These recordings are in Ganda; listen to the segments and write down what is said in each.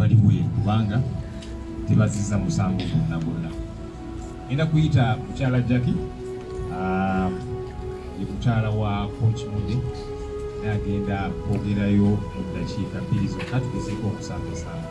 baliwe kubanga tebaziza musango gwonna gwonna. Ngenda kuyita mukyala Jackie ah, ye mukyala wa Coach Mude naye agenda kwogerayo mu ddakiika bbiri zokka tugezeeko okusambasamba.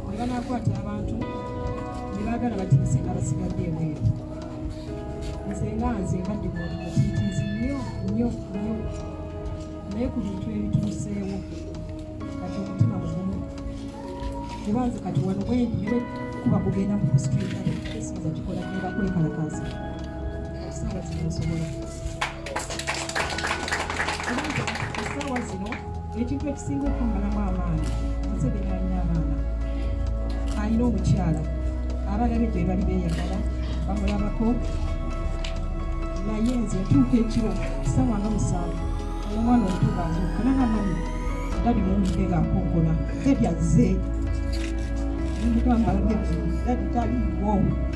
banakwata abantu nebagala batinise nga basigadde ebweru nze nga nze mbadde mutiitiizi nnyo nnyo nnyo naye ku bintu ebituuseewo kati omutima mugumu kuba nze kati wano bwendi nebe kuba kugenda mu kusikiikale esiza kikola neba kwekalakaasa ekisaala kino nsobola essaawa zino ekintu ekisinga okumbalamu amaanyi museveni alina abaana alina omukyala abaana be gyebali beyagala bamulabako naye nze ntuuka ekiro ssaawa nga musanvu omwana omuto gaazuuka nanamani dadi muwulidde ngaakonkola ebyaze mugamba dadi taliwo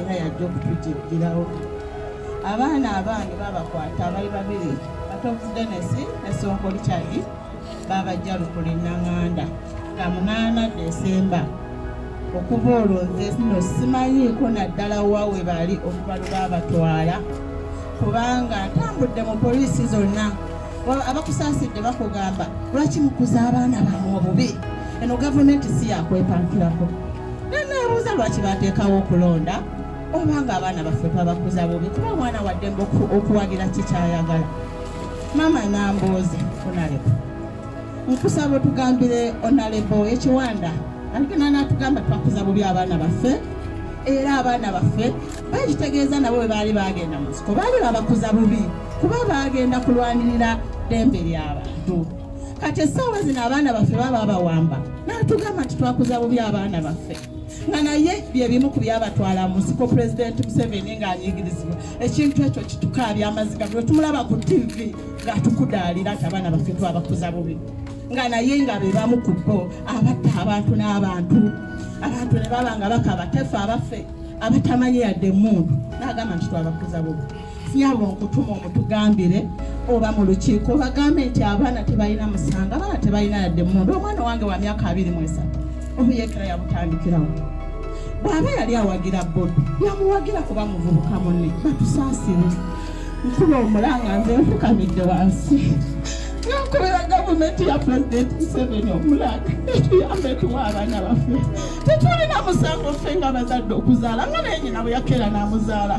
era yajja okutujigirawo abaana abaana babakwata abali babiri katobuzi denesi ne sonko richadi babajja lukuli nanganda nga munaana desemba okuva olwo nze no simanyiiko naddala wa we bali okuva lwe babatwala kubanga ntambudde mu poliisi zonna abakusaasidde bakugamba lwaki mukuza abaana bamwe obubi eno gavumenti si yakwepankirako neneebuuza lwaki bateekawo okulonda oba nga abaana baffe twabakuza bubi kuba omwana waddembe okuwagira kikyayagala maama nambooze onalebo nkusaba otugambire onalebo ekiwanda aligenda natugamba twakuza bubi abaana baffe era abaana baffe bakitegeeza nabo bwe baali bagenda mu nsiko baali babakuza bubi kuba bagenda kulwanirira ddembe ly'abantu kati essaawa zino abaana baffe baba babawamba natugamba nti twakuza bubi abaana baffe nga naye byebimu ku byabatwala mu nsiko pulezidenti museveni ng'anyigirizibwa ekintu ekyo kitukaabya amaziga bwe tumulaba ku tivi ng'atukudaalira nti abaana baffe twabakuza bubi nga naye nga be bamu ku bo abatta abantu n'abantu abantu ne baba nga bakaba tefe abaffe abatamanyi yadde emundu n'agamba nti twabakuza bubi yabo nkutuma omutugambire oba mu lukiiko bagambe nti abaana tebalina musango abaana tebalina yadde mundu omwana wange wa myaka abiri mu esatu obuyekera yabutandikirawo bw'aba yali awagira bobi yamuwagira kuba muvubuka munne batusaasire nkuba omulanga nze nfukamidde wansi nankubira gavumenti ya pulezidenti museveni omulanga etuyambe tuwa abaana baffe tetulina musango ffe nga bazadde okuzaala nga naye nyina bwe yakeera n'amuzaala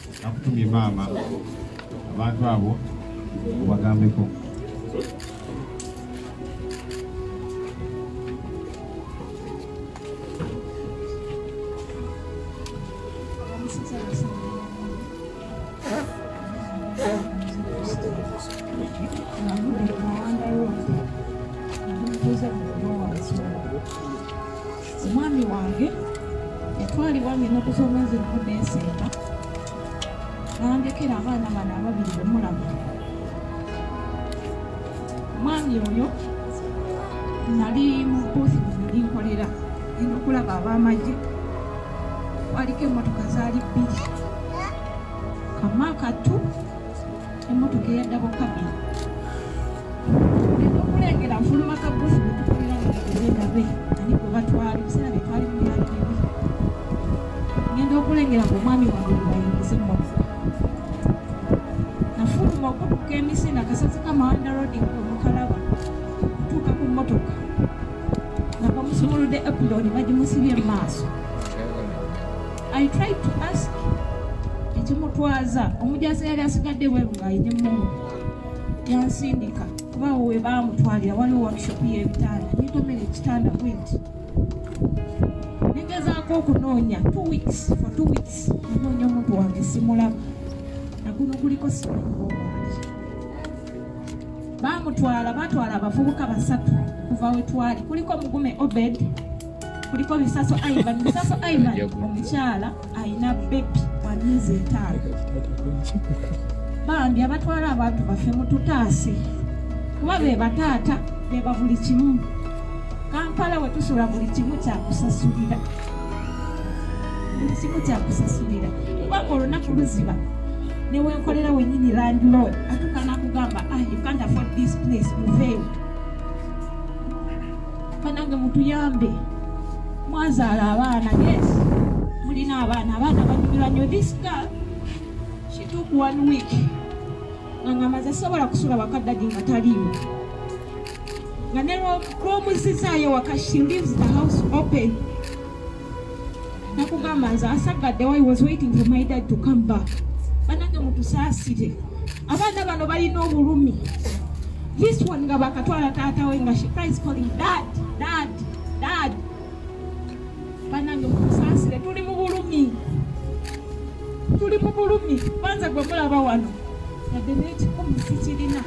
Akutumye maama abantu abo obagambeko. omwami wange yatwalibwa ng'ennaku z'omwezi lumu neesemba n'andekera abaana bano ababiri bemulaba omwami oyo nali mu boosi bwenali nkolera enda okulaba ab'amagye waliko emmotoka zaali bbiri kama kattu Emmotoka eyadda bukabi okulengera nfuluma kabufu netukolera ngaegabe ani gwe batwala ebiseera bye twali mubyali bibi ngenda okulengera nga omwami wange gwebayingiza emmotoka nafuluma okutuka emisinde akasazi ka mawanda rodi omukalaba okutuuka ku mmotoka nga bamusumuludde epuloni bagimusibye mu maaso I tried to ask ekimutwaza omujaasi yali asigadde bweru ng'ayine mumu yansindika kuba awo we baamutwalira waliwo workshop y'ebitanda netomera ekitanda bwenti negezaako okunoonya two weeks for two weeks nanoonya omuntu wange simulaba naguno guliko simanyiwo baamutwala baatwala abavubuka basatu kuva wetwali kuliko mugume obed kuliko bisaso ivan bisaso ivan omukyala alina bebi wa myezi etaano bambi abatwala abantu baffe mututaase kuba be bataata beba buli kimu kampala wetusula buli kimu kyakusasulira buli kimu kyakusasulira kubanga olunaku luziba newenkolera wenyini landlord atukana kugamba ah, you can't afford this place muveewo banange mutuyambe mwazaala abaana yes mulina abaana abaana banyumirwa nyo this girl she took one week ngangamaze sobola kusula wakaddagi nga taliiwo nga ne lwomuzizaayo waka she leaves the house open nakugamba nze asaggadde why was waiting for my dad to come back banange mutusaasire abaana bano balina obulumi this one nga bakatwala taata we nga she cries calling dad dad dad banange mutusaasire tuli mu bulumi tuli mu bulumi banza gwe mulaba wano yadde nekikumi sikirina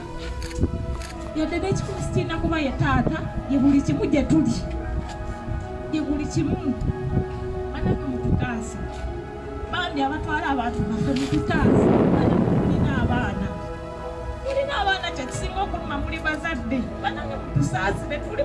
yadde n'ekikulu sikiina kuba ye taata ye buli kimu gye tuli ye buli kimu banange mututaase bambi abatwala abantu baffe mututaase mulina abaana mulina abaana kyekisinga okuluma muli bazadde banange mutusaasire tuli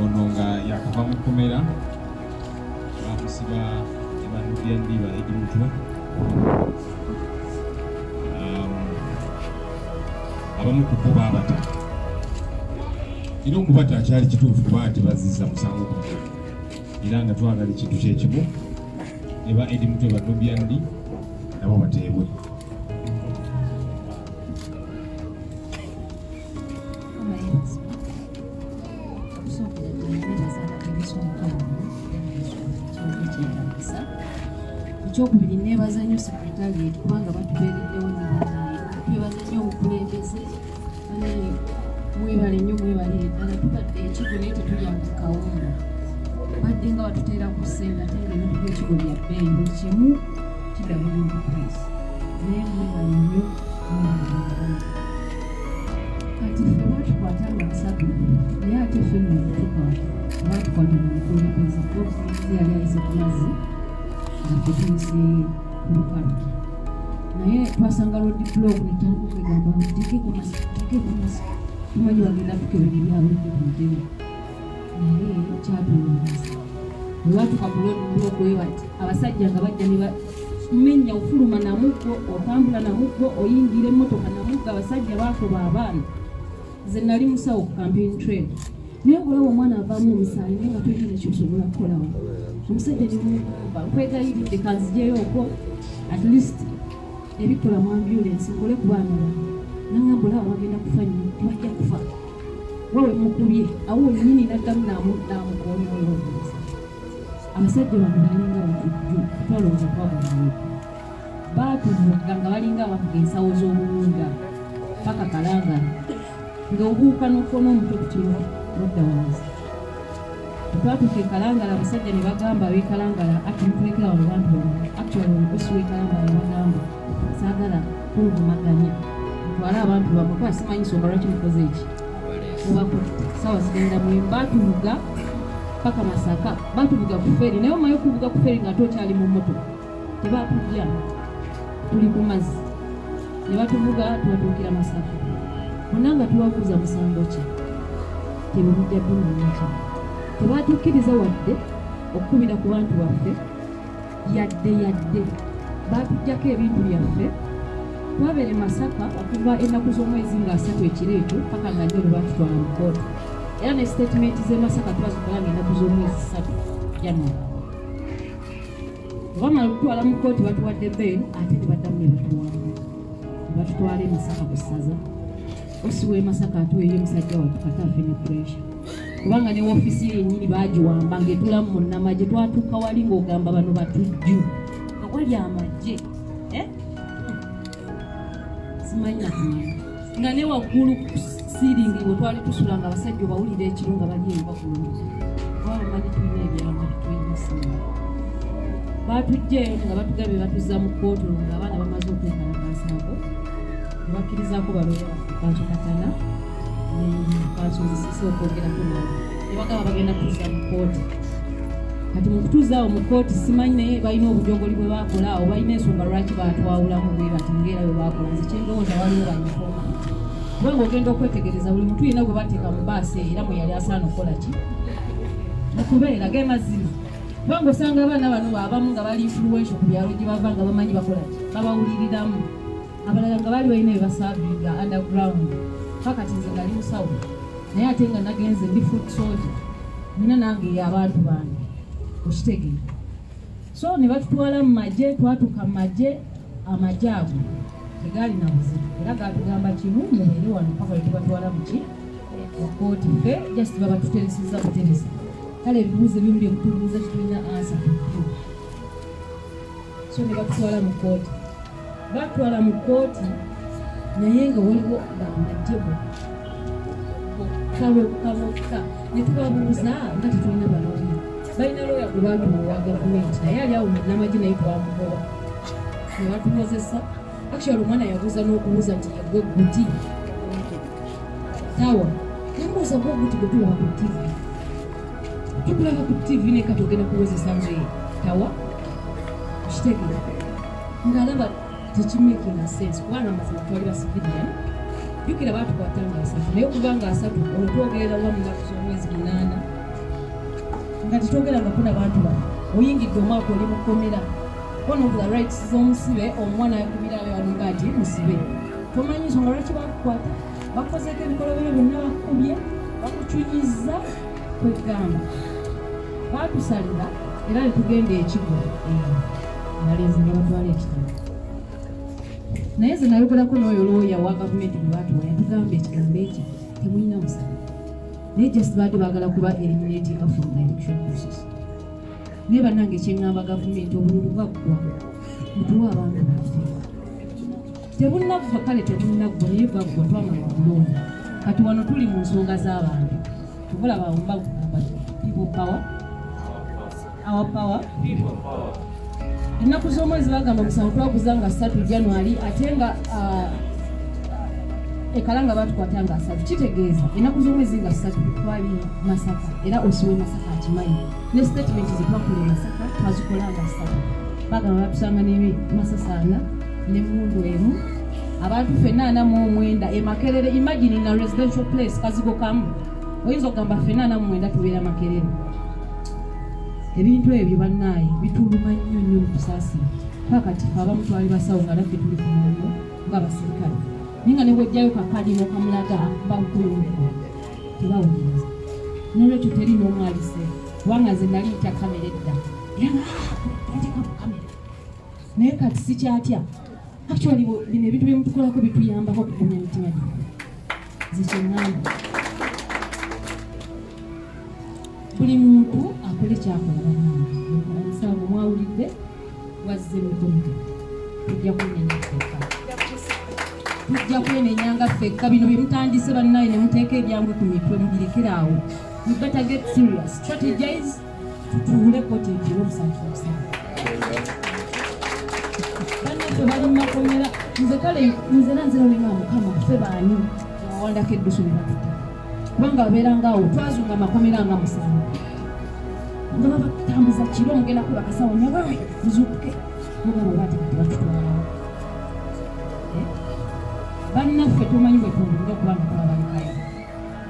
ono nga yakuva mu kkomera bamusiba ebanudya ndiba edi mutwe um, abamu ku bo baabata era okubata akyali kituufu kuba ati baziza musango ku era nga twagala ekintu kyekimu ne ba edi mutwe banubya ndi nabo bateebwe ekyokubiri nebaza nnyo sekretariat kubanga batubeereddewo nebanaye twebaza nnyo obukulembeze banaye mwebale nnyo mwebalire ddala tubadde ekigo naye tetulyanga kawunga badde nga batuteera ku ssente ate nga ebintu byekigo bya bbeeyi buli kimu kidabulira price naye mwebale nnyo mwebale kati ffe batukwata lwa nsatu naye ate ffe netukwata batukwata mu mukulembeze obukulembeze yali ayise ku mazzi atetuyise ku lukalu naye twasanga lodi blog netandika okwegamba teke ku mazzi teke ku mazzi tumanyi bagenda tukebera ebyabulijo ku mutebe naye kyatulumiriza olwatuka ku lodi blog webati abasajja nga bajja menya ofuluma na muggo otambula na muggo oyingira emmotoka na muggo abasajja baakuba abaana ze nali musawo ku campaign train naye okulaba omwana avaamu omusaayi naye nga tolina nekyosobola kukolawo omusajja nemugamba nkwegayiridde kanzijeyo okwo at least ebikola mu ambulensi nkole ku baana ba nangamba olaba bagenda kufa nyo tebajja kufa wawe mukubye awo wenyini naddamu namukoonyoyo abasajja bano balinga batujju twalowooza twabulayo baatuvugga nga balinga abavuga ensawo z'obuwunga paka kalanga nga obuuka n'okona omuto ku kiro nodda wansi twatuuka ekalangala abasajja ne bagamba abekalangala ati mutulekera wano bantu bano actually omukosi w'ekalangala ne bagamba sagala kuvumaganya mutwale abantu bamwe kuba simanyi nsonga lwaki mukoze eki mubakuti sawa zigenda mwe batuvuga paka masaka batuvuga ku feri naye omaye okuvuga ku feri nga ate okyali mu moto tebatujja tuli ku mazzi ne batuvuga tubatuukira masaka bonna nga tubabuuza musango ki tebamujja ddumanyaki tebatukkiriza wadde okukubira ku bantu baffe yadde yadde baatuggyako ebintu byaffe twabere masaka okuva ennaku z'omwezi nga asatu ekiro ekyo paka nga nyo lwebatutwala mu kooti era ne sitatimenti z'e masaka twazikola nga ennaku z'omwezi satu january obamala okutwala mu kooti batuwadde bbeeru ate ne baddamu ne batuwamba ne batutwala emisaka ku ssaza Osi w'e Masaka atuweeyo omusajja watu kata afe ne puresha kubanga ne woofiisi ye yennyini baagiwamba ng'etulamu mu nnamagye twatuuka wali ng'ogamba bano batujju nga wali amagye eh? simanyi nakumanya nga ne waggulu siiringi we twali tusula nga abasajja obawulira ekiro nga bali eyo bagulu kubanga manyi tulina ebyamba tulina simu baatujja eyo nga batugabye batuzza mu kkooti olwo nga abaana bamaze okwekalakaasako bakkirizako baloya bantu katana bakyuzisisa okwogerako nabo nebagaba bagenda kutuza mu kooti kati mukutuzaawo mu kooti simanyi naye balina obujogoli bwe bakola awo balina ensonga lwaki batwawulamu bwe bati ngaera bwe bakola nze kyendowooza waliwo banyifoma kuba ngaogenda okwetegereza buli mutu yina gwe bateeka mu baasi eyo era mwe yali asaana okukola ki mukubeera ge mazima kuba ngaosanga abaana bano baabamu nga bali influensio ku byalo gye bava nga bamanyi bakola ki babawuliriramu abalala nga baali balina bebasaavinga underground fakati nze nali musawo naye ate nga nagenze ndi foot soja nina nange yabantu bange okitegere so ne batutwala mu magye twatuka mu magye amagye ago tegaali na buzibu era gatugamba kimu mubeere wano paka wetubatwala muki okooti fe just babatutereseza buteresa kale ebibuuzo ebimu byekutubuuza kitulina ansa so ne batutwala mu kooti batwala mu kkooti naye nga waliwo bambajjebo bokka bokka bokka ne tubabuuza nga tetulina balooya balina looya ku bantu bowa gavumenti naye ali awo namagye naye twamubowa ne batukozesa actually omwana yabuuza n'okubuuza nti yegwe guti tawa namubuuza gwe guti gwe tulaba ku tivi tukulaba ku tivi nekatogenda kuwozesa nze tawa kitegera ngalaba tekimakinga sense kubanga amazima twali basikiriya jukira batukwata nga asatu naye okuva nga asatu olwo twogerera wa mu nnaku z'omwezi munaana nga tetwogera nga kuna bantu bano oyingidde omwaka oli mukomera one of the rights z'omusibe omuwa nayakubirayo alinga nti musibe tomanyi nsonga lwaki bakukwata bakozeeko ebikolobero byonna bakukubye bakucunyiza kwegamba baatusalira era ne tugenda ekigo nalenzi ne batwala ekitabo naye nze nayogerako n'oyo looya wa gavumenti gwe baatuwa yatugamba ekigambo ekyo temulina musala naye just baadde baagala kuba eliminating from the election process naye bannange kyeŋŋamba gavumenti obululu bwaggwa mutuwa abantu baffe tebunnaffa kale tebunnaggwa naye baggwa twamala okulonda kati wano tuli mu nsonga z'abantu tubulaba wumba kugamba people power our power ennaku z'omwezi bagamba omusango twaguza nga satu january ate nga uh, ekala nga batukwata nga asatu kitegeeza ennaku z'omwezi nga satu twali masaka era osiwe masaka akimanyi ne sitatimenti zetwakula e masaka twazikola nga satu bagamba batusanga nebi masasaana ne mundu emu abantu fena ana mu omwenda e makerere imagine in a residential place kazigo kamu oyinza okugamba fena ana mu omwenda tubeera makerere ebintu ebyo bannaaye bituluma nnyo nnyo mukusaasira kakati fe abamu twali basawo nga naffe tuli kumulimu nga abaserikale naye nga nebwojjayo kakadi nokamulaga bakukulumeko tebawuliriza nolwekyo teri n'omwalise kubanga nze nali ntya kamera edda naye kati sikyatya actually bino ebintu byemutukolako bituyambako okugumya mitima gye zekyengamba buli muntu akole kyakola banange mwawulidde wazze mukomito tujja kunenya feka tujja kwenenya nga fekka bino byemutandise bannaye nemuteeka ebyangwe ku mitwe mubirekere awo we better get serious strategize tutuule koti egire omusanvu omusanvu banaffe bali mumakomera nze kale nze nanzira olinga mukama ffe baani awawandako eddusu nebatuta kubanga babeeranga awo twazunga amakomera nga musanvu nga babatambuza kiro mugenda kuba kasawo nyabawe muzuukuke mugabo batekati batutwalawo eh? bannaffe tumanyi bwetundi okuba nakubabalikayo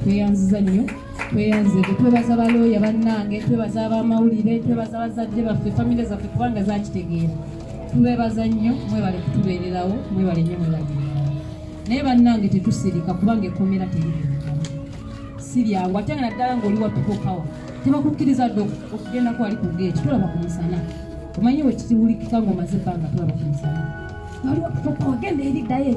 tweyanziza nnyo tweyanze twebaza balooya bannange twebaza abamawulire twebaza bazadde baffe famire zaffe kubanga zakitegeera tubebaza nnyo mwebale kutubeererawo mwebale nnyo mwebale naye bannange tetusirika kubanga ekkomera teriri si lyangu ate nga naddala ngaoli watukokawa tebakukkiriza dde okugenda kwali ku geeti tulaba ku musana omanyi wekitiwulikika ngaomaze ebbanga tulaba ku musana waliwo tukokawa genda eri ddayo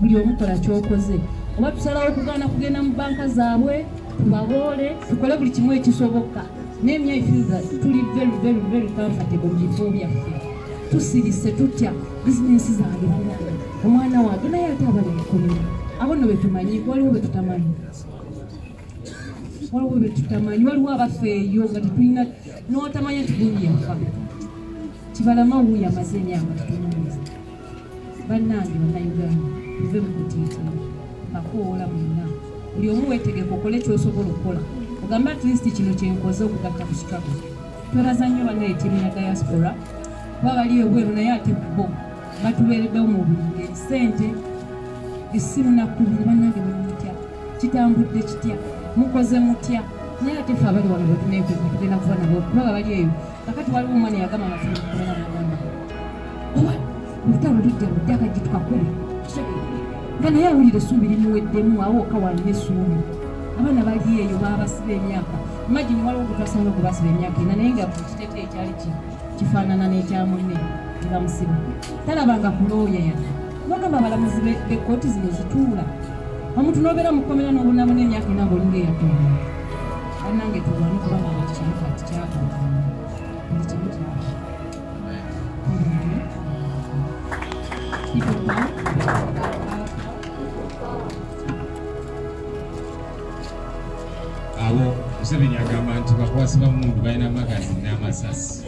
buli omukola kyokoze oba tusalawo okugaana kugenda mu banka zaabwe tubaboole tukole buli kimu ekisoboka naye mye ifiza tuli very very very comfortable mu bifo byaffe tusirise tutya bizinensi zange banana omwana wange naye ate abali mukomera abo no betumanyi waliwo betutamanyi waliwo betutamanyi waliwo abafeeyo nga tetulina notamanya tigundi yafa kibalama wuyo amaze emyaka tutunulisa bannange bannayuganda tuve mu kutiitira mbakowoola mwenna buli omu weetegeka okole kyosobola okukola ogambe at least kino kyenkoze okugatta ku struggle twebaza nnyo bannaye tiimu ya diaspora kuba bali ebweru naye ate bo batubeereddewo mu buli ngeri ssente essimu nakkubiri bannange mumutya kitambudde kitya mukoze mutya naye ate fe abali wano bwetuneekweka tugenda kuba nabo kuba babali eyo kakati waliwo omwana yagamba mazima kubera nagamba owa olutalo lujja lujja kajji tukakube nga naye awulira essuubi limuweddemu awo oka walina essuubi abaana bali eyo babasiba emyaka imagine waliwo gutwasanga okubasiba emyaka ena naye nga kukiteko ekyali kifaanana n'ekyamunne nebamusiba talabanga kulooya yadde bagamba abalamuzi bekooti zino zituula omuntu nobeera mukomera nobonabona emyaka ena ngaolinga eyatonda banange tulwane kuba nana kino kati kyakola buli kimu kyaba abo museveni agamba nti bakwasi bamundu balina magazini n'amasasi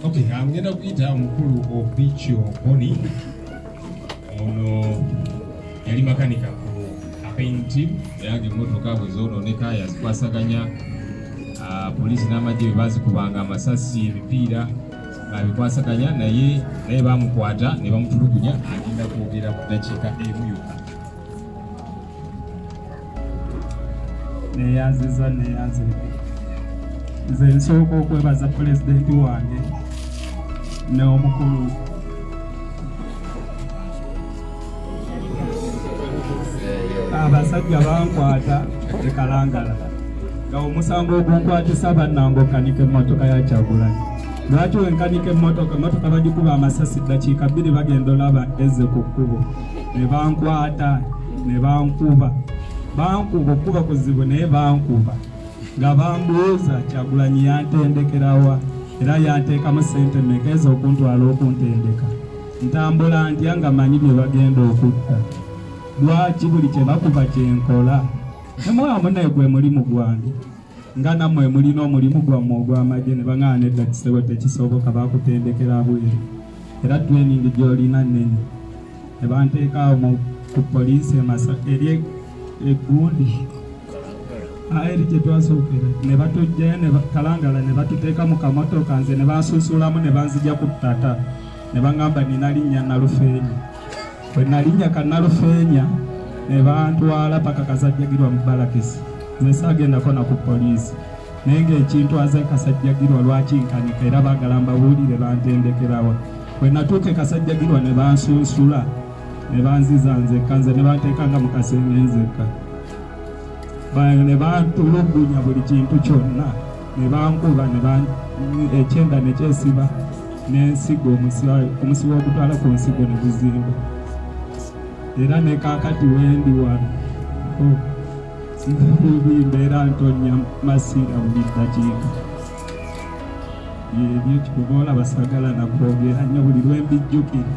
okay ngenda kuyita omukulu obicho boni Ono yali makanika ku apenti eyaga emmotoka bwe zoonooneka yazikwasaganya ah, poliisi n'amagye bwe baazikubanga amasasi emipiira babikwasaganya naye naye bamukwata ne bamutulugunya agenda kwogera ku ddakiika emu yokka neyanziza neyanzirika nze nsooka okwebaza pulezidenti wange n'omukulu abasajja bankwata ekalangala nga omusango ogunkwatisa bannangokanike emmotoka ya kyagulanyi lwaki wenkanike emmotoka emmotoka bagikuba amasasi ddakiika bbiri bagenda olaba ezze ku kkubo ne bankwata ne bankuba bankuba okuba kuzibu naye bankuba nga bambuuza kyagulanyi yantendekerawa era yanteekamu sente meka ezo okuntwala okuntendeka ntambula ntya nga manyi bye bagenda okutta lwaki buli kye bakuba kyenkola nemwamu naye gwe mulimu gwange nga namwe mulina omulimu gwammwe ogw'amagye ne bang'ana edda kisebo tekisoboka bakutendekera bweru era tweningi gy'olina nnene ne banteeka awo mu- ku poliisi e Masaka eri e- e Gundi Ah, eri gye twasookera ne batujjayo ne ba- Kalangala ne batuteeka mu kamotoka nze ne bansunsulamu ne banzija ku ttata ne baŋŋamba nina linnya Nalufeenya bwe nalinnya ka Nalufeenya ne bantwala paka kazajjagirwa mu balakisi nze saagendako na ku poliisi naye ng'ekintu aze kasajjagirwa lwaki nkanika era baagala mbabuulire bantendekerawa bwe natuuka ekasajjagirwa ne bansunsula ne banziza nzekka nze ne banteekanga mu kasenge nzekka ne bantulugunya buli kintu kyonna ne bankuba ekyenda ne kyesiba n'ensigo omusiba ogutwala ku nsigo ne guzimba era ne kaakati wendi wano oh. nzibubi mbeera ntonya masiira buli ddakiika ebyo kikubaola basagala nakwogera nnyo buli lwembijjukira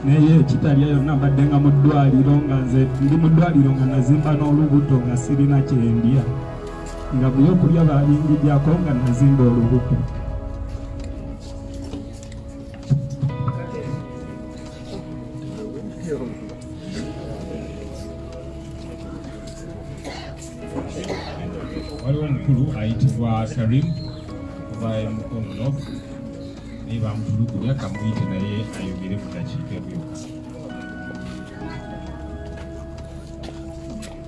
naye ekitalya yonna mbadde nga mu ddwaliro nga nze ndi mu ddwaliro nga nazimba n'olubuto nga sirina kyendya nga byokulya balingigyako nga nazimba olubuto waliwo omukulu ayitibwa salim oba mukonono naye bamutulugunya kamuyite naye ayogere mu dakiika ebyoka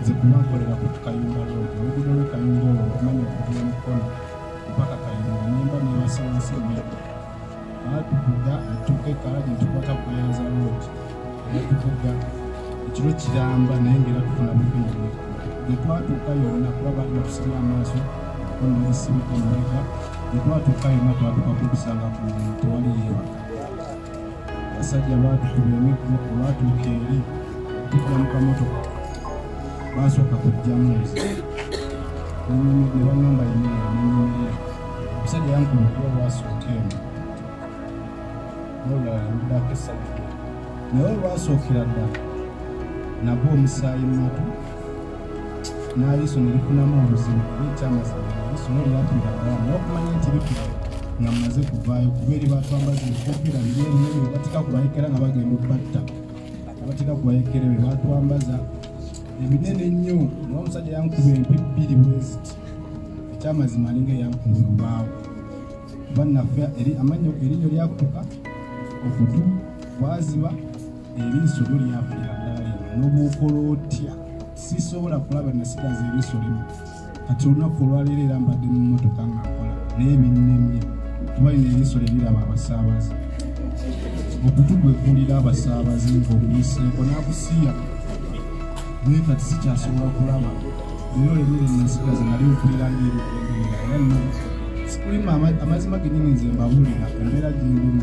nze kuba nkolera ku kayumba road oluguudo lwe kayumba olwo nkumanyi okuvula mukono mpaka kayumba nemba nebasa wansi emmedo baatuvuga atuuka ekala gyentubaka kuyanza road batuvuga ekiro kiramba naye ngaera tufuna bubiiri gyetwatuuka yonna kuba baali batusibye amaaso onnesibika emabega gyetwatuuka yonna twatuka kukusanga ku tewali yeebaka abasajja baatukuba emiggo olwatuuka eri okutula mu kamotoka baasooka kujjamu nze ne bangamba yimira nenyimirira omusajja yankuba okuba olwasooka eno nolulala yamudako esajja naye olwasookera ddala nagwa omusaayi mumatu n'aliiso ne lifunamu obuzibu ekyamazima aliiso no lyatunda abalala naye okumanya nti lifuna nga mmaze kuvaayo kuba eri batwambaza ebikofira biri ebinene bebatika kubayekera nga bagenda okubatta abatika kubayekera be batwambaza ebinene ennyo naye omusajja yankuba empi bbiri bweziti ekyamazima alinga eyankuba olubaawo bannaffe eri amannyo erinyo lyakutuka okutu kwaziba eriiso lyo lyafunira ddala lino n'obwokola otya sisobola kulaba nasigaza eriiso limu kati olunaku olwaleero era mbadde mu mmotoka nga nkola naye binnemye kuba lino eriiso lye liraba abasaabaze okutu kwe kulira abasaabaze ng'omuyiseeko n'akusiya naye kati sikyasobola kulaba leero lemere nasigaza nali okulira ng'ebigenderera era no sikuli amazima genyini nze mbabuulira embeera gyendimu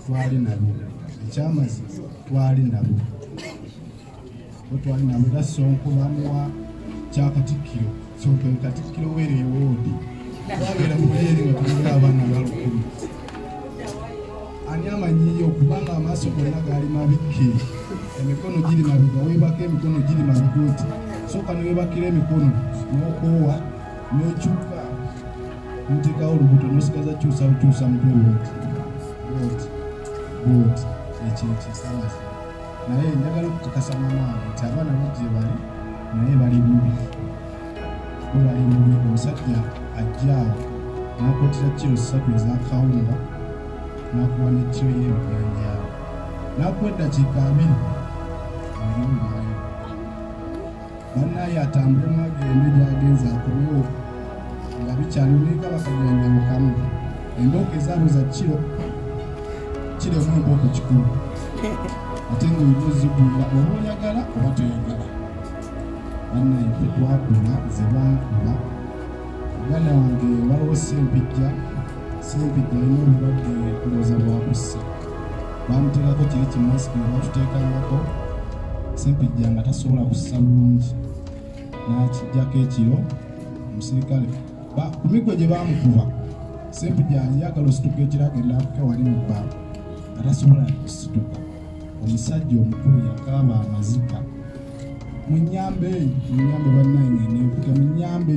twali nabo ekyamazima twali nabo twali nabo era sonko bamuwa kyakatikkiro sonko katikkiro were ewoodi twagera muleeri nga tulinga abaana balukumi ani amanyiyo kubanga amaaso gonna gaali mabikke emikono giri mabiga webaka emikono giri mabiga oti soka newebakira emikono nokoowa nokyuka mutekawo olubuto nosigaza kyusa bukyusa mutwe woti woti ekyo ekisalafu naye njagala okukakasa mamaange nti abaana bajje bali naye bali bubi bebali bubi omusajja ajjaawo nakotera kiro ssatu ezakawunga nakuwa nekiro yebijanjaawo nakuwa eddakiika abiri banaye atambule mwagende gyagenza akubewo nga bikyali olinga bakagenda mukamu embooko ezaabo za kiro kiremu embooko kikulu ate nga olina ozigulira oba oyagala oba toyagala banaye tetwakula ze bankuba muganda wange waliwo sempijja sempijja alina obulwadde kulooza bwakussa baamuteekako kiri ki masiki ne batuteekangako sempijja nga tasobola kussa bulungi n'akijjako ekiro omusirikale ku miggo gye baamukuba sempijja yagala osituka ekiro agenda akuke wali mu bba nga tasobola kusituka omusajja omukulu yakaaba amazika munyambe munyambe bannange nenkuke munyambe